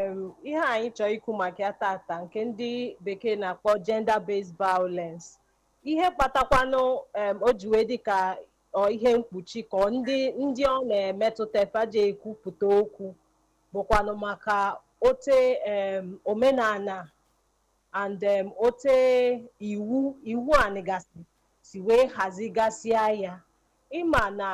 Em, ihe anyị chọrọ ikwu maka ya tata nke ndị bekee na-akpọ gender based violence ihe kpatakwanụ em, o ji wee dị ka ọ ihe mkpuchi ka ọ ndị ndị ọ na-emetụta fa eje ekwupụta okwu bụkwanụ maka ote em, omenala and em, ote iwu iwu anị gasị si wee hazigasịa ya ị ma na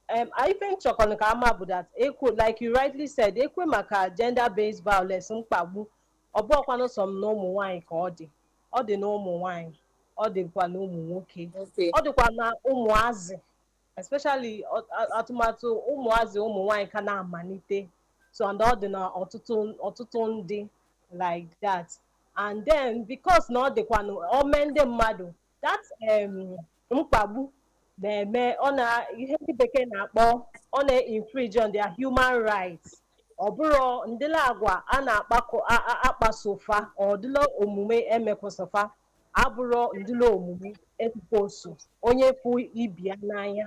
Um, ife m chọkọ ka a ma bụ that e kwue like you rightly said e kwue maka gender based violence mkpagbu ọ bụrọkwanụ sọ m na ụmụ nwaanyị ka ọ dị ọ dị na ụmụ nwaanyị ọ dịkwa na ụmụ nwoke Okay. ọ dịkwa na ụmụazị especially ọ- a- tụmadụ ụmụazị ụmụ nwaanyị ka na-amalite so and ọ dị na ọtụtụ ọtụtụ ndị like that and then because na ọ dịkwanụ ome ndị mmadụ that um, mkpagbu na-eme ọ na ihe ndị bekee na-akpọ ọ na-infringe on their human rights ọ bụrụ ụdịlị agwa a na-akpakọ a- a- akpaso fa ụdịlị omume e mekwaso fa abụrọ ụdịlị omume e supposed onye fụ ibe ya n'anya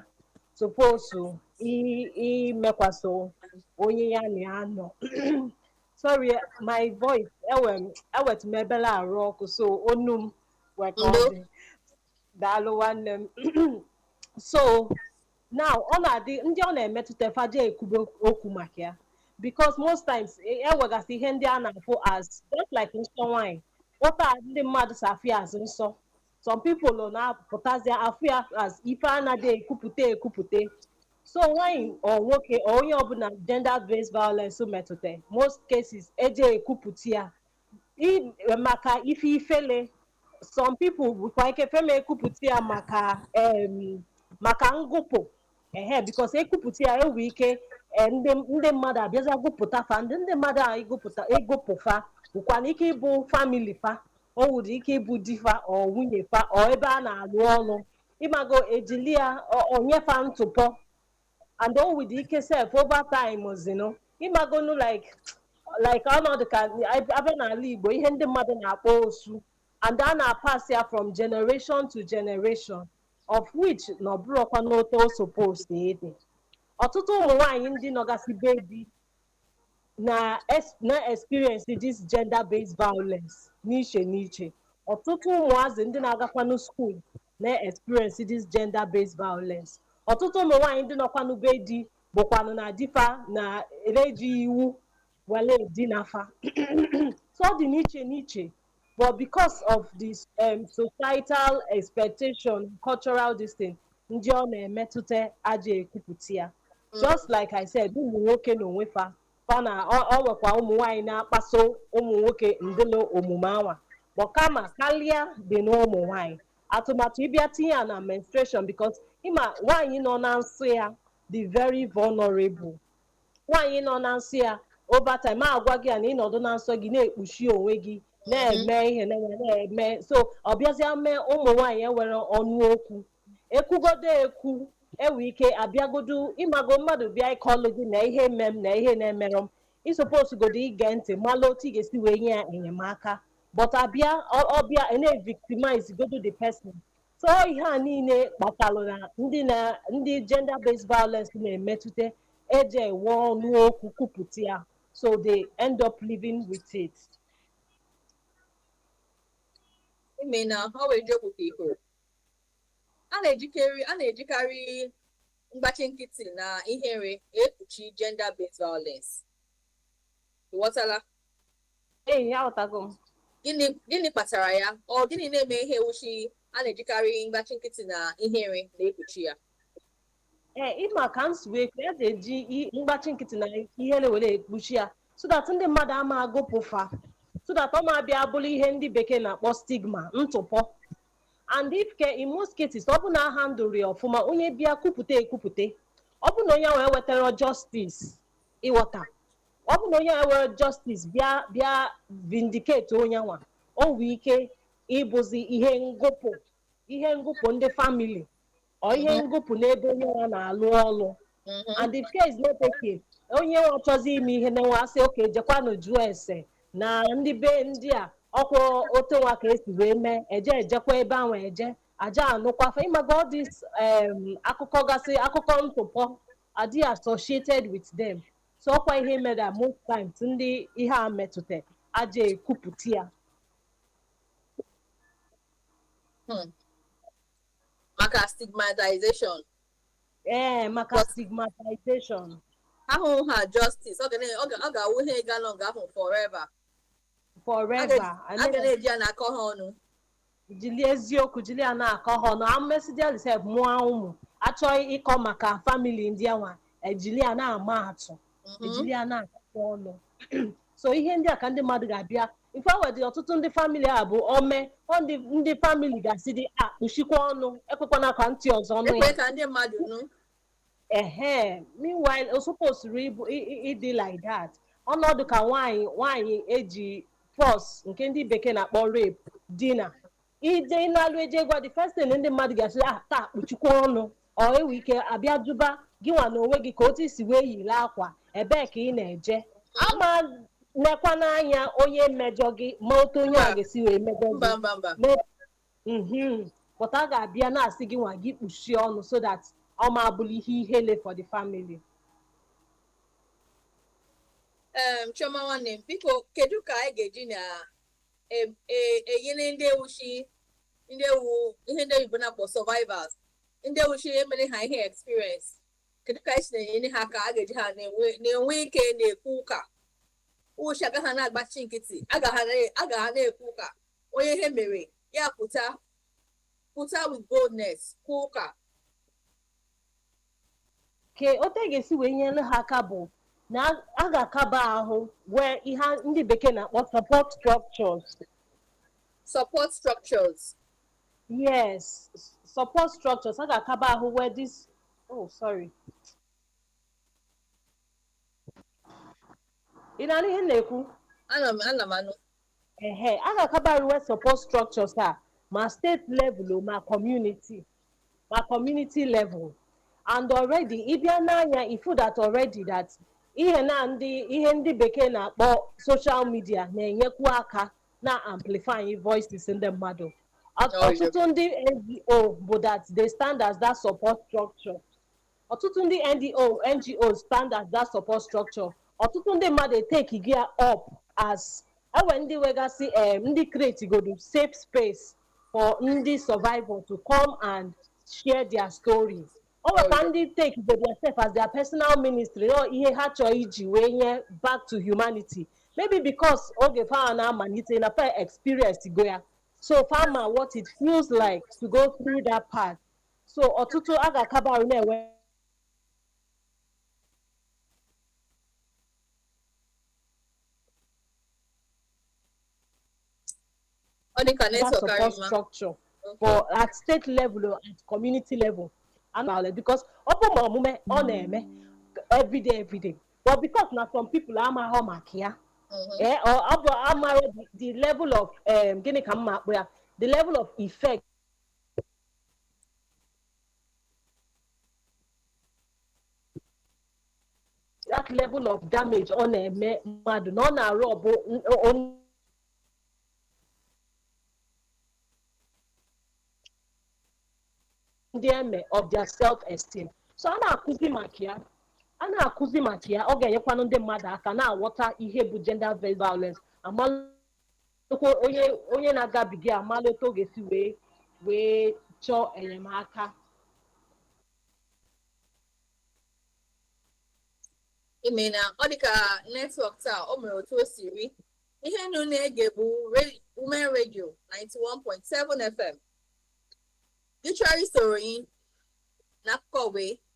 supposed i- imekwaso onye ya na ya nọ sorry my voice enwe m enwetụ m obele arụ ọkụ so onu m wee ka ọ Ndo. dị daalụ nwanne m so now ọ na-adị ndị ọ na-emetụta fa eje ekwube okwu maka ya because most times e- e nwegasị ihe ndị a na-afụ as just like nsọ nwanyị ote ndị mmadụ si afụ ya as nsọ some people nọ na-apụtazi afụ ya as ife anaghị ekwupụta ekwupụta so nwanyị or nwoke or onye ọbụla gender based violence metụta most cases eje ekwupụta ya maka ife ifele some people nwekwa ike fa ama ekwupụta ya maka maka ngụpụ ehe because e kwupụta ya e nwe ike ndị mmadụ abịazia gụpụta fa ndị ndị mmadụ a ịgụpụta ịgụpụ fa nwekwanụ ike ịbụ family fa o nwere ike ịbụ di fa or nwunye fa or ebe a na-alụ ọlụ ị mago e jili ya enye fa ntụpọ and o nwedị ike sef over time ozinu ị magonu like like ọ na-adị ka a bịa n'ala Igbo ihe ndị mmadụ na-akpọ osu and a na-apass ya from generation to generation of which na ọ bụrọkwanụ otu o supposed ịdị ọtụtụ ụmụ nwaanyị ndị nọgasị be di na es- na-experience this gender based violence n'iche n'iche ọtụtụ ụmụazị ndị na-agakwanụ school na-experience this gender based violence ọtụtụ ụmụ nwaanyị ndị nọkwanụ be di bụkwanụ na di fa na-eji iwu wele dinaa fa so ọ dị n'iche n'iche but because of this um, societal expectation cultural this thing ndị ọ na-emetụta aja ekwupụta ya just like i said ụmụ nwoke na onwe fa fa na ọ ọ nwekwa ụmụ nwaanyị na-akpaso ụmụ nwoke ụdịlị omume anwa but kama karịa dị n'ụmụ nwaanyị tụmadụ ị bịa tinye ya na menstruation because ị ma nwaanyị nọ na nsọ ya dị very vulnerable nwaanyị nọ na nsọ ya over time a gwa gị ya na ị nọdụ na nsọ gị na-ekpuchi onwe gị na-eme ihe na na-eme so ọ bịazịa mee ụmụ nwaanyị enwerọ ọnụ okwu ekwugodo ekwu enwe ike abịagodu ịmago mmadụ bịa ịkọlụ gị na ihe eme m na ihe na-emerụ m ị suppose godo ige ntị malụ otu ị ga-esi wee nye ya enyemaka but abịa ọ- ọ bịa ị na-evictimize godo the person so ihe a niile kpatalụ na ndị na ndị gender based violence na-emetụta eji enwe ọnụ okwu kwupụta ya so they end up living with it ime na ha wee jee okwute iko a na-ejikarị a na-ejikarị mgbachi nkịtị na ihere ekpuchi gender based violence ị ghọtala Ee, aghọtago m. Gịnị gịnị kpatara ya? Ọ gịnị na-eme ihe ewuchi a na-ejikarị mgbachi nkịtị na ihere na-ekpuchi ya? Ee, ịma ka m si wee kwuo, a ga-eji i- mgbachi nkịtị na ihere were ekpuchi ya so that ndị mmadụ ama agụpụ fa so that ọ ma bịa bụrụ ihe ndị bekee na-akpọ stigma ntụpọ and if care in most cases ọ bụ na ahandlerọ ya ọfụma onye bịa kwupụta ekwupụta ọ bụ na onye ahụ ewetarọ justice ịghọta ọ bụ na onye a were justice bịa bịa vindicate onye nwa o nwee ike ịbụzi ihe ngụpụ ihe ngụpụ ndị family or ihe ngụpụ n'ebe onye nwa na-alụ ọlụ and if care is not taken. onye nwa chọzi ime ihe na nwa a sị okay jekwanụ jụọ ese na ndị be ndị a ọkwa otu nwa ka esi wee mee eje ejekwa ebe ahụ eje aja anụkwa fa ịmago all this um, akụkọ gasị akụkọ ntụpọ adị associated with them so ọkwa ihe mere a most times ndị ihe a metụta aja ekwupụta ya Hmm. maka stigmatization ee maka But- stigmatization ahụhụ ha justice ọ ga na- ọ ga- ọ ga-awụ ihe ga-anọ nga ahụ forever forever a ga na-eji ya na-akọ ha ọnụ jili eziokwu jili ya na-akọ ha ọnụ a mesịdịalị sef mụọ ụmụ a chọọ ịkọ maka family ndị anwa ejili ya na-ama atụ ejili ya na-akọ ọnụ so ihe ndị a ka ndị mmadụ ga-abịa in fact e nwedị ọtụtụ ndị family a bụ o mee ọ ndị ndị family ga-asịdị ya kpuchikwa ọnụ ekwekwana ka ntị ọzọ nụ ya ekwe ka ndị mmadụ nụ ehe meanwhile o supposed ịbụ ị- ị- ịdị like that ọnọdụ ka nwaanyị nwaanyị e ji force nke ndị bekee na-akpọ rape dina ije ị nalụ eje gwa the first thing ndị mmadụ ga-asị ah taa kpuchikwa ọnụ or e nwee ike abịa jụba gị nwa na onwe gị ka otu i si wee yiri akwa ebee ka ị na-eje ama nekwa n'anya onye mejọ gị ma otu onye a ga-esi wee mejọ gị mba mba mba mhm but a ga-abịa na-asị gị nwa gị kpuchie ọnụ so that ọ ma abụlụ ihe ihele for the family Em, Chioma nwanne m biko kedu ka anyị ga-eji na em- e- enyere ndị wụ shị ndị wụ ihe ndị oyibo na-akpọ survivors ndị wụ shị e mere ha ihe experience kedu ka anyị si na-enyere ha ka a ga-eji ha na-enwe na-enwe ike na-ekwu ụka wụ shị ha agaghị na-agbachi nkịtị agaghị na- agaghị na-ekwu ụka onye ihe mere ya pụta pụta with boldness kwuo ụka ka otu a ga-esi wee nyere ha aka bụ na a ga-akaba ahụ nwee ihe ndị bekee na-akpọ support structures support structures yes s- support structures a ga-akaba ahụ nwee this oh sorry ị na-anụ ihe m na-ekwu ana m ana m anụ ehe a ga-akabarị nwee support structures a ma state level o, ma community ma community level and already ị bịa nee anya ị fụ that already that ihe na ndị ihe ndị bekee na-akpọ social media na-enyekwu aka na amplifying voices ndị mmadụ Ọt- Oh, yeah. ọtụtụ ndị NGO bụ that they stand as that support structure ọtụtụ ndị NGO, NGOs stand as that support structure ọtụtụ ndị mmadụ etake go ya up as e nwe ndị nwegasị em ndị create godu safe space for ndị survivor to come and share their stories o nwekwa ndị take go ya sef as their personal ministry ọ ihe ha chọọ iji wee nye back to humanity maybe because oge fa na-amalite na fa experience go ya so fa ma what it feels like to go through that path so ọtụtụ a ga-akaba ahụ na-enwe ọ dị ka that network support karịa ma structure for at state level or at community level and all that because ọ bụ ma omume ọ na-eme everyday everyday but because na some people amaghọ maka ya eh, ọ ọ bụ amaghọ the- the level of um, gịnị ka m ma-akpọ ya the level of effect that level of damage ọ na-eme mmadụ na ọ na-arob ndị eme of their self esteem so a na-akụzi maka ya a na-akụzi maka ya ọ ga-enyekwanụ ndị mmadụ aka na-aghọta ihe bụ gender based violence amalụ kwa onye onye na-agabiga ya amalụ otu ọ ga-esi wee wee chọọ enyemaka imeela ọ dịka network taa o mere otu o siri ihe unu na-ege bụ re- women radio 91.7 fm gị chọrọ isoro anyị n'akụkọ wee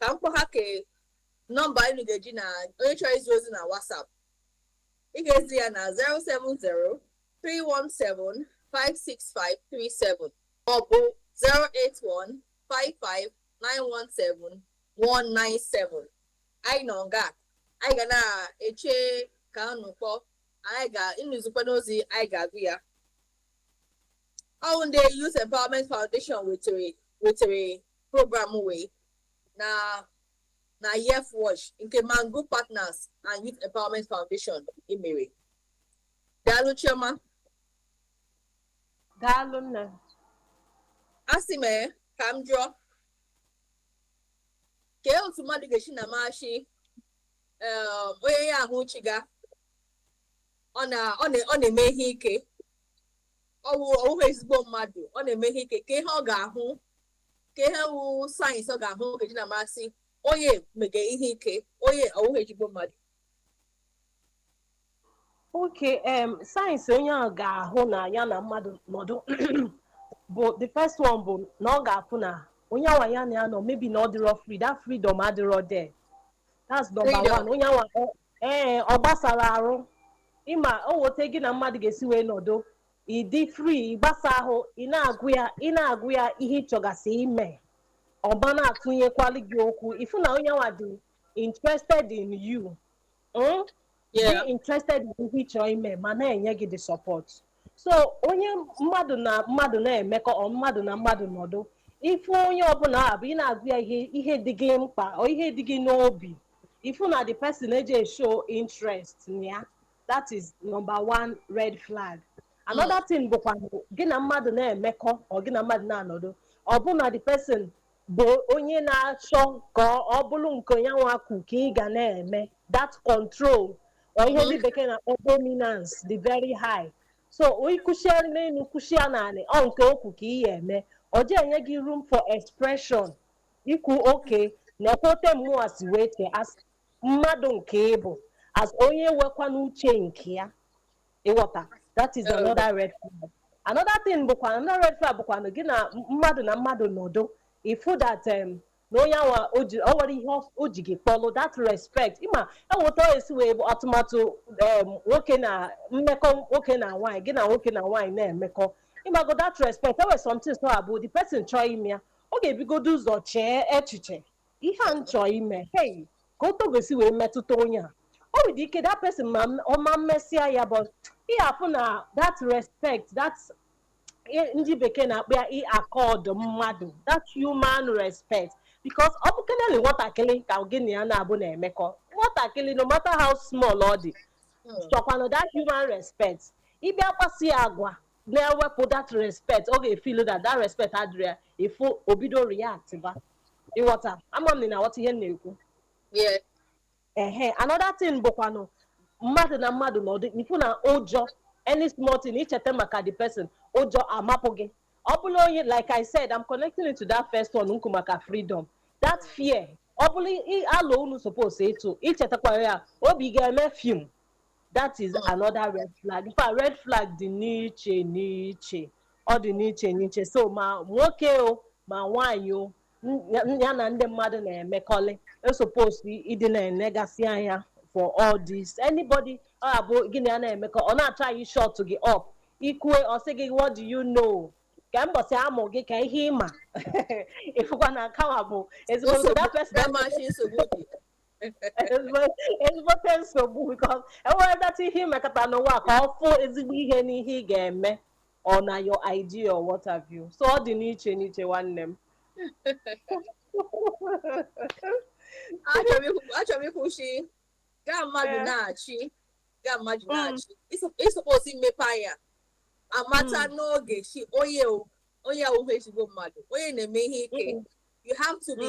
ka m kpọ ha ke nọmba unu ga-eji na onye chọrọ izi ozi na WhatsApp ị ga-ezi ya na 070 317 56537 maọbụ 081 55 917 197 anyị nọ nga anyị ga na-eche ka unu kpọọ unu zikwanụ ozi anyị ga-agụ ya ọ wụ ndị Youth Empowerment Foundation wetere wetere program wee na na Yef Watch nke Mango Partners and Youth Empowerment Foundation emere daalụ Chioma daalụ nne asị m ee ka m jụọ kee otu mmadụ ga-esi na-ama sị onye ya ahụ chịga ọ na- ọ na- ọ na-eme ihe ike ọ wụ ọ wụghị ezigbo mmadụ ọ na-eme ihe ike kee ihe ọ ga-ahụ kee ihe wụ signs ọ ga-ahụ ọ ga-eji na-ama sị onye mege ihe ike onye ọ wụghị ezigbo mmadụ okay em signs onye ahụ ga-ahụ na ya na mmadụ nọdụ bụ the first one bụ na ọ ga-afụ na onye awa ya na ya nọ maybe na ọ dịrọ free that freedom adịrọ there that's number one onye awa ee ọ gbasarọ arụ ị ma o nwee etu gị na mmadụ ga-esi wee nọdụ ị dị free ị gbasa ahụ ị na-agwa ya ị na-agwa ya ihe ị chọgasị ime ọ bịa na-atụnyekwali gị okwu ị fụ na onye nwa dị interested in you mm? Yeah. dị interested in ihe ị chọrọ ime ma na-enye gị the support so onye mmadụ na mmadụ na-emekọ or mmadụ na mmadụ nọdụ ị fụ onye ọbụla ọ bụ ị na-agwa ya ihe ihe dị gị mkpa or ihe dị gị n'obi ị fụ na the person eji show interest na ya that is number one red flag another thing bụkwa gị na mmadụ na-emekọ or gị na mmadụ na-anọdụ ọ bụ na the person bụ onye na-achọ ka ọ bụrụ nke nya nwa kwu ka ị ga na-eme that control or ihe ndị bekee na-akpọ dominance dị very high so i kwushia n'elu kwushia n'anị ọ nke o kwu ka ị ya-eme ọ ji enye gị room for expression ikwu okay nekwa otu mụnwa si wee chee as mmadụ nke ị bụ as onye nwekwanụ uche nke ya ị ghọta that is another red flag another thing bụkwa another red flag bụkwa na gị na mmadụ na mmadụ nọdụ ị fụ that um, na onye awa o ji- o nwere ihe ọ- o ji gị kpọlụ that respect ịma eweta e si wee bụ atụmatụ um, nwoke na mmekọ nwoke na nwaanyị gị na nwoke na nwaanyị na-emekọ ị mago that respect e nwere something so abụ the person chọọ ime ya ọ ga-ebugodu ụzọ chee echiche ihe a m chọọ ime hei ka otu ọ ga-esi wee metụta onye a o nwere ike that person ma m- ọ ma mesịa ya but ị afụ na that respect that i- ndị bekee na-akpọ ya ị-accord mmadụ that human respect because ọ bụkeneli nwatakịrị ka gị na ya na-abụ na-emekọ nwatakịrị no matter how small ọ dị chọkwanụ that human respect ị bịa kpasị ya agwa na-ewepụ that respect ọ ga-efeel that that respect adịrị ya ị fụ o bido react ba ị ghọta ama m na ị na-aghọta ihe m na-ekwu Yes. ehe another thing bụkwanụ mmadụ na mmadụ nọdụ ị fụ na ụjọ any small thing i cheta maka the person ụjọ amapụ gị ọ bụla onye like i said i'm connecting it to that first one m kwu maka freedom that fear ọ bụla ị- alụ unu suppose ịtụ i chetakwa ya obi ga-eme fim that is another red flag in fact red flag dị n'iche n'iche ọ dị n'iche n'iche so ma nwoke o ma nwaanyị o n- ya- ya na ndị mmadụ na-emekọlị e suppose ịdị na-enegasị anya for all this anybody ọ abụ gị na ya na-emekọ ọ na-atry ịshut gị up i kwue ọ sị gị what do you know ka mbọsị a mụ gị ka ihe ị ma ị fụkwa na nkawa bụ ezigbo Nsogbu- that person- Damashi nsogbu dị. ezigbote nsogbu because e nweredata ihe ị mekata n'ụwa ka ọ fụ ezigbo ihe n'ihe ị ga-eme or na your idea or what have you so ọ dị n'iche n'iche nwanne m achọrọ m ikwu sị gị na mmadụ eh. na-achị gị na mmadụ mm. na-achị ị suppose imepe anya amata mm. n'oge sị onye onye awụhụ ezigbo mmadụ onye na-eme ihe ike mm. you have to be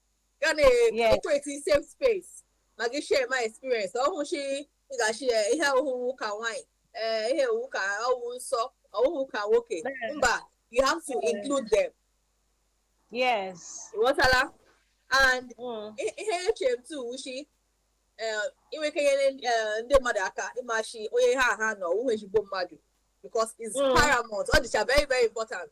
ga na-ekreti safe space ma gị share my experience ọ wụ shị ị ga-achị ya ihe ọhụhụ ka nwaanyị ee ihe owu ka ọwụ nsọ ọhụhụ ka nwoke mba you have to include them yes ị ghọtala and Mm. i- ihe eche m tu wụ shị i nwe ike nyere eh, ndị mmadụ aka ịma shị onye ha ha nọ ọ wụ ezigbo mmadụ because it's Mm. paramount ọ dịcha very very important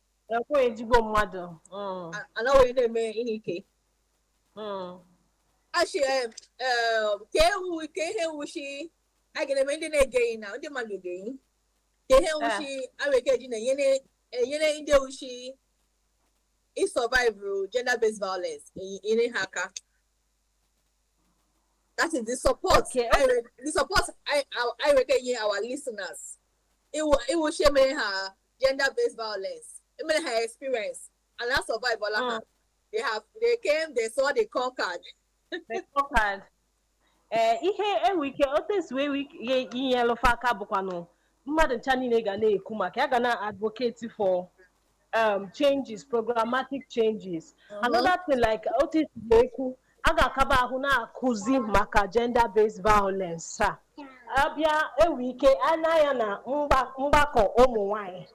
ekwe ezigbo mmadụ mm. anaghị na-eme ihe ike mm. achị eh, eh, ka ewu kee ihe wụ shị a ga-eme ndị na-ege anyị na ndị mmadụ ege anyị kee ihe wụ shị eh. e nwe ike ji na-enyere ndị wụ shị ị survive gender based violence nyere ha aka that is the support okay, okay. the support i, i, i nwe ike inye our listeners ị wụ ị wụ shị e mee ha gender based violence e mere ha experience and ha survive ọla ha they have they came they saw they conquered They conquered. ee ihe e nwe ike otu esi wee nwee ike inyelụ fa aka bụkwanụ mmadụ ncha niile ga na-ekwu maka ya ga na advocate for um, changes programmatic changes another thing like otu e si wee kwu a ga-akaba ahụ na-akụzi maka gender based violence a bịa e nwe ike anya ya na mgba- mgbakọ ụmụ nwanyị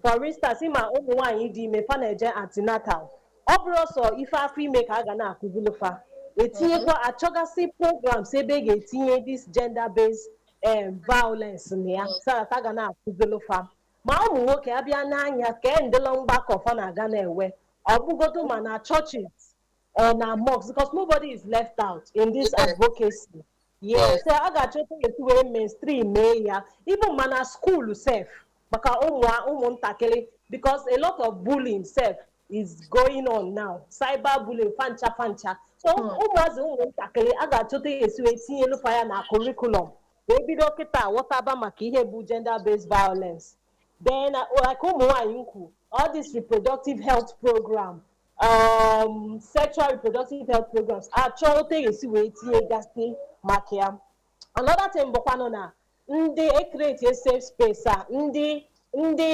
for instance ma ụmụ nwanyị dị ime fa na-eje antenatal ọ bụrụ sọ ife afọ ime ka a ga na-akụzilụ fa e tinyekwa a chọgasị programs ebe a ga-etinye this gender based um, violence na ya so that a ga na-akụzilụ fa ma ụmụ nwoke a bịa n'anya ka endịla mgbakọ fa na-aga na-enwe ọ bụgodu ma na churches or na mosque because nobody is left out in this Yes. advocacy yes Yes. so a ga-achọta etu wee mainstream mee ya even ma na school sef maka ụmụ ụmụntakịrị because a lot of bullying sef is going on now cyber bullying fancha fancha so Hmm. ụmụazị ụmụntakịrị a ga-achọta ya e si wee tinyelụ fa ya na curriculum wee bido kịta ghọtaba maka ihe bụ gender based violence then uh, like ụmụ nwaanyị m kwu all this reproductive health program um, sexual reproductive health programs a chọọ otu e ga-esi wee tinyegasị maka ya another thing bụkwanụ na ndị ekreti safe space a ndị ndị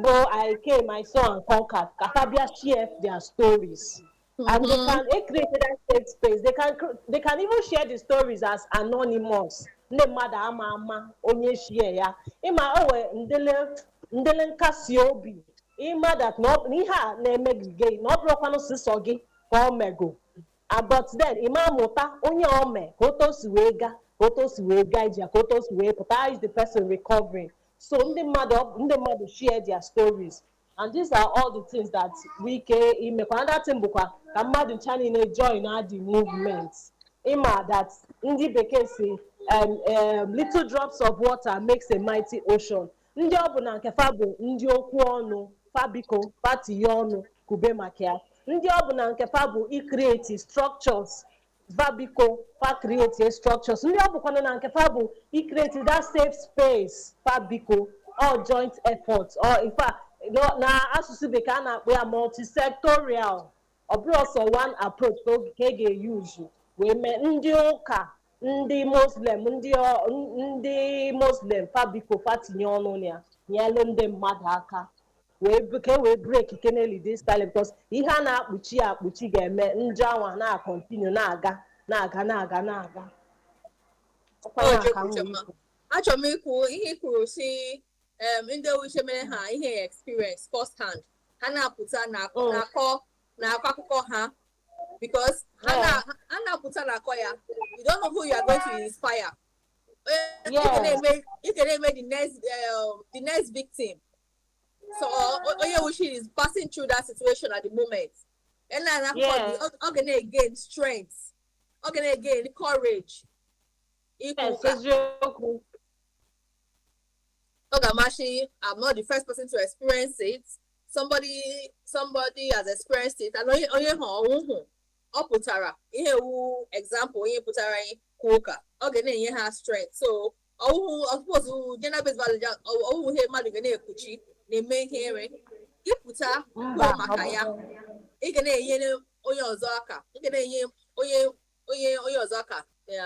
bụ I came I saw and conquered ka fa bịa share their stories and they can they create that safe space they can cr- they can even share the stories as anonymous ndị mmadụ ama ama onye share ya ịma o wee ndele ndele nkasi obi ịma that na ọ- na ihe a na-eme gị gị na ọ bụrọkwanụ sịsọ gị ka ọ mego but then ịma mụta onye ọ mee ka otu o si wee ga ka otu o si wee gaa ije ka otu o si wee pụta how is the person recovering so ndị mmadụ ọ- ndị mmadụ share their stories and these are all the things that nwee ike imekwa another thing bụkwa ka mmadụ ncha niile join na the movement ịma that ndị bekee sị um, um, little drops of water makes a mighty ocean ndị ọ bụ na nke fa bụ ndị okwu ọnụ fa biko fa tinye ọnụ kube maka ya ndị ọ bụ na nke fa bụ icreate structures fa biko fa create structures ndị ọ bụkwana na nke fa bụ icreate that safe space fa biko all joint effort or in fact na asụsụ bekee a na-akpọ ya multisectorial ọ bụrọ sọ one approach ka oge- ka e ga-euse wee mee ndị ụka ndị muslim ndị ọ- n- ndị muslim fa biko fa tinye ọnụ na ya nyelu ndị mmadụ aka wee bu- ka e wee break keneli this cycle because ihe a na-akpuchi ya akpuchi ga-eme njọ anwa na-acontinue na-aga na-aga na-aga na-aga Ọkwa ya ka m wee kwuo. achọrọ m ikwu ihe i kwuru sị em, ndị ọ wụ shi e mere ha ihe experience first hand ha na-apụta na- Oh. na-akọ na-akọ akụkọ ha because ha Oh. na- ha na-apụta na-akọ ya you don't know who you are going to inspire Eh, you Yeah. can eme- you can eme the next um, the next victim so o- onye wụ shi is passing through that situation at the moment and na na Yeah. ọ ọ ga na-again strength ọ ga na-again courage Yes, ikwu ụka eziokwu. ọ ga-ama shi I'm not the first person to experience it somebody somebody has experienced it and onye onye ha ọnwụ hụ ọ pụtara ihe wụ example onye pụtara anyị kwuo ụka ọ ga na-enye ha strength so ọ wụhụ ọ suppose gender based violence ọ wụhụ ihe mmadụ ga na-ekpuchi na-eme ihere ịpụta kwuo maka ya ị ga na-enyere onye ọzọ aka ị ga na-enye onye onye onye ọzọ aka ya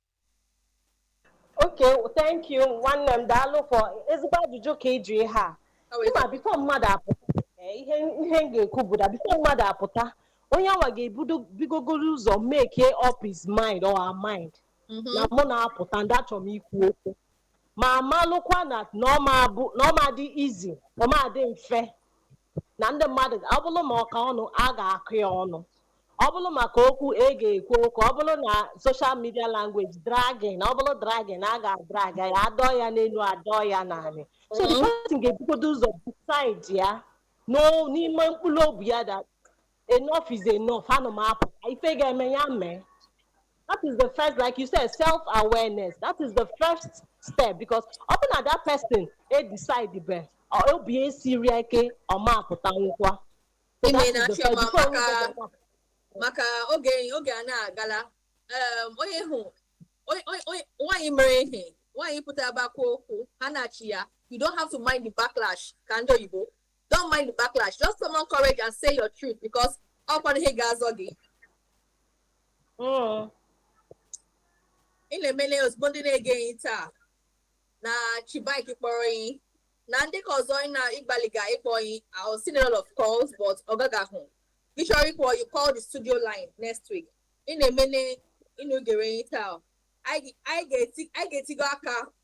Okay, thank you nwanne m daalụ for ezigbo ajụjụ ka ịjụ ihe a ịma before mmadụ apụta ee, ihe ihe m ga-ekwu bụ na before mmadụ apụta onye anwa ga-ebugodoro ụzọ make up his mind or her mind na mụ na-apụta and achọrọ m ikwu okwu ma malụkwa na na ọ ma bụ na ọ ma-adị easy ọ ma-adị mfe na ndị mmadụ ọ bụrụ maka ọnụ a ga-akọ ya ọnụ ọ bụrụ maka okwu e ga-ekwu okwu ọ bụrụ na social media language dragging ọ bụrụ dragging a ga-adrag ya adọọ ya n'elu adọọ ya n'ala so the person ga-ebugodo ụzọ decide ya n'o- n'ime mkpụrụ obi ya that enough is enough ana m apụ ka ife ga-eme ya mee that is the first like you said self awareness that is the first step because ọ bụ na that person e decide be ọ- obi esiri ya ike ọ ma apụtanwukwa So Ime that is na the first- chioma before we maka- go back. maka oge oge a na-agala em, onye hụ onye- onye- onye- nwaanyị mere ihe nwaanyị pụta bakwa okwu ha na-achị ya you don't have to mind the backlash ka ndị oyibo don't mind the backlash just summon courage and say your truth because ọkwa ihe ga-azọ gị mm. unu emeela ezigbo ndị na-ege anyị taa na chibuike kpọrọ anyị na ndị ka ọzọ na-agbalịga ịkpọ anyị I was seeing a lot of calls but oge agago ị chọrọ ịkpọ you call the studio line next week unu emeela unu gere anyị taa anyị ga-etigo aka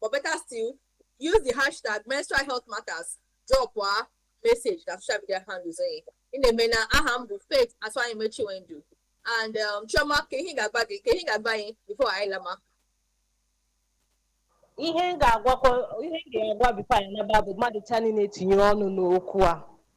but better still use the hashtag menstrual health matters drop a message na social media handles anyị unu emeela aha m bụ faith atụanyeme chinwendu and um, chioma kee ihe ị ga-agwa gị kee ihe ị ga-agwa anyị before anyị lama ihe m ga-agwakwa ihe m ga-agwa before anyị naba bụ mmadụ ncha niile tinye ọnụ n'okwu a